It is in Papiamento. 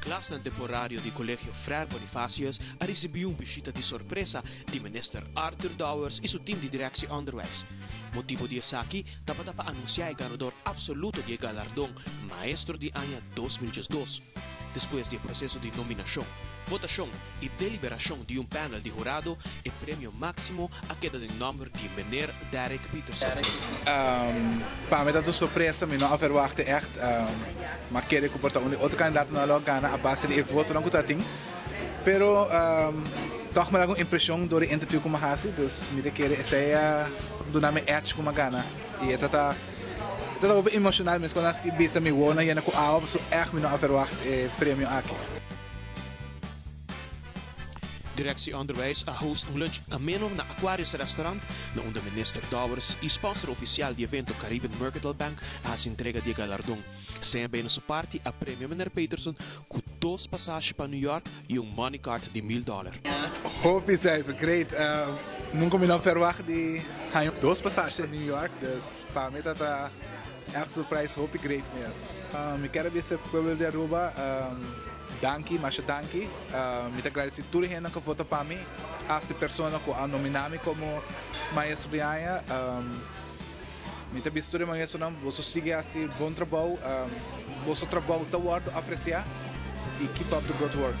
Klasnan temporario di Colegio Frair Bonifacius a ricibi un bishita di sorpresa di Minister Arthur Dowers y su team di Directie Onderwijs. Motibo di esaki tabata pa anuncia e ganador absoluto di e galardon Maestro di Aña dos mil diesdos. Despues di e proceso di nominacion, votacion, I deliberashon di un panel di hurado e premio maksimo a keda den nòmber di Meneer Derek Peterson. Pa mi ta ta un sorpresa, mi no a verwachta ègt, ma kere ku por ta un di otro kandidato nan a lo gana a base di e votonan ku ta tin. Pero tòg mi a laga un impreshon dor e interviu ku mi a hasi, dus mi ta kere esei a duna mi èdge ku mi a gana. I e ta ta e ta ta hopi emoshonal meskos nan a bisa mi wou nan yena ku awa pasobra ègt mi no a verwacht e premio aki. Direksie Onderwijs a host un lunch ameno na Aquarius Restaurant, na unda Minister Dowers y sponsor oficial di evento Caribbean Mercadal Bank a haci entrega di e galardon. CMB na su parti a premio Miner Peterson cu dos pasashi pa New York y un money cart di mil dollar. Hopi cijfer, great! Nunca mi no a verwacht di haña dos pasashi na New York, dus pa mi ta ta. Echt surprise hopi great mes. Mi ker a bisa pueblo di Aruba danki masha danki mi ta gradeci tur hendenan cu a vota pa mi aft e persona cu a nomina mi como maestro di aña mi ta bisa tur e maestronan boso sigui haci bon trabou boso trabou ta wordo aprecia y keep up the good work.